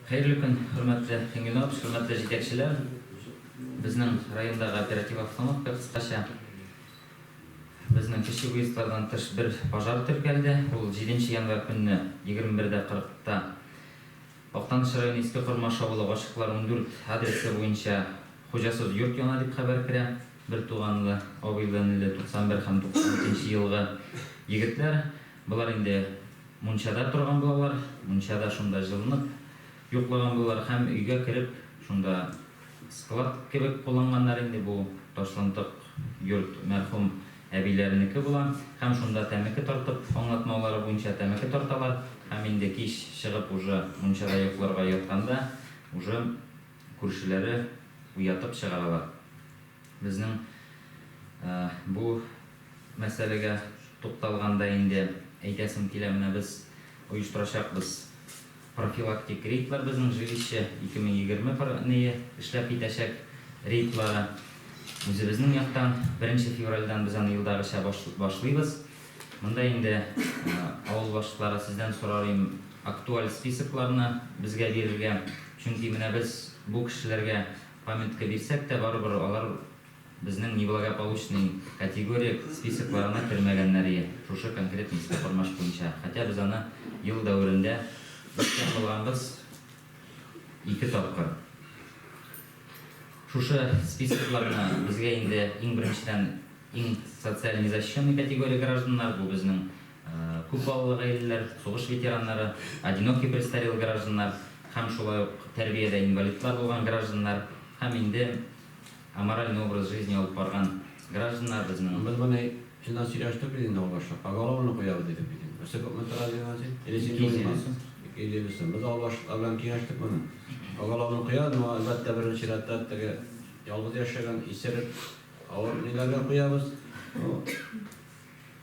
Хәерле көн, хөрмәтле Фәнил абз, хөрмәтле җитәкчеләр! Безнең райондагы оператив обстановка кыскача. Безнең кече выездлардан тыш бер пожар теркәлде, ул җиденче январь көнне 21:40 та Актаныш районы Иске Кормаш авылы Гашыйклар ундүрт адресы буенча хуҗасыз йорт яна дип хәбәр керә. Бертуганлы, абыйлы-энеле 91 һәм 93 нче елгы егетләр, болар инде. Мунчада торган булалар, мунчада шунда җылынып йоклаган булалар һәм өйгә кереп, шунда склад кебек кулланганнар инде, бу ташлантык йорт мәрхүм әбиләренеке була, һәм шунда тәмәке тартып, аңлатмалары буенча тәмәке тарталар, һәм инде кич чыгып уже мунчада йокларга ятканда уже күршеләре уятып чыгаралар. Безнең бу мәсьәләгә тукталганда инде әйтәсем килә, менә без оештырачакбыз профилактик рейдлар безнең жилище 2020 пр ные эшләп китәчәк рейдлары. Үзебезнең яктан беренче февральдән без аны елдагыча башлыйбыз. Монда инде авыл башлыклары сездән сорар им актуаль списокларны безгә бирергә, чөнки менә без бу кешеләргә Памятка бирсәк тә, барыбер алар безнең неблагополучный категория списокларына кермәгәннәр йә шушы конкретный иске Кормач буенча, хотя без аны ел дәверендә үткән булганбыз ике тапкыр. Шушы списокларны безгә инде иң беренчедән иң социаль незащищенный категория гражданнар, бу безнең күп балалы гаиләләр, сугыш ветераннары, одинокий престарелый гражданнар һәм шулай ук тәрбиядә инвалидлар булган гражданнар һәм инде аморальный образ жизни алып барган гражданнар безнең Без моны чыннан сөйләштек бит инде ул башта. Поголовно куябыз дидек бит инде. Берсе күпме тора дидең аны син? Или син 250 дулыймы? сум. 250 сум. Без авыл башлыклары белән киңәштек моны. Поголовно куябыз, моңа әлбәттә беренче чиратта теге ялгыз яшәгән, исерек, авыр ниләргә куябыз. Ну,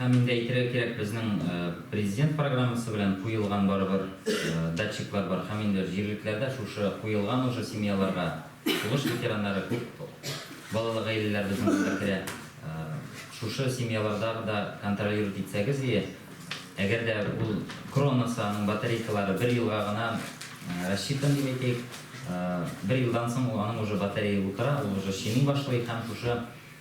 Һәм инде әйтергә кирәк, безнең Президент программасы белән куелган барыбер датчиклар бар. Һәм инде җирлекләрдә шушы куелган уже семьяларга сугыш ветераннары, күп балалы гаиләләр безнең монда керә. Шушы семьяларда да контролировать итсәгез ие. Әгәр дә ул кронасы, аның батарейкалары бер елга гына рассчитан дип әйтик. Бер елдан соң аның уже батарея утыра, ул уже чеми башлый һәм шушы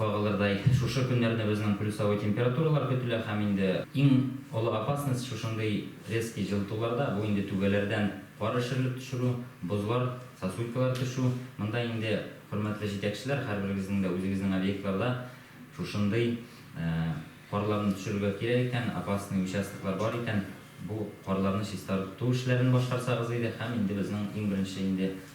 Кагылырдай шушы көннәрне безнең плюсовой температуралар көтелә һәм инде иң олы опасность шушындый резкий җылытуларда, бу инде түбәләрдән кар эрешерлек төшерү, бозлар, сосулькалар төшү. Монда инде, хөрмәтле җитәкчеләр, һәрберегезнең дә үзегезнең объектларда шушындый карларны төшерергә кирәк икән, опасный участоклар бар икән, бу карларны чистарту эшләрен башкарсагыз иде һәм инде безнең иң беренче инде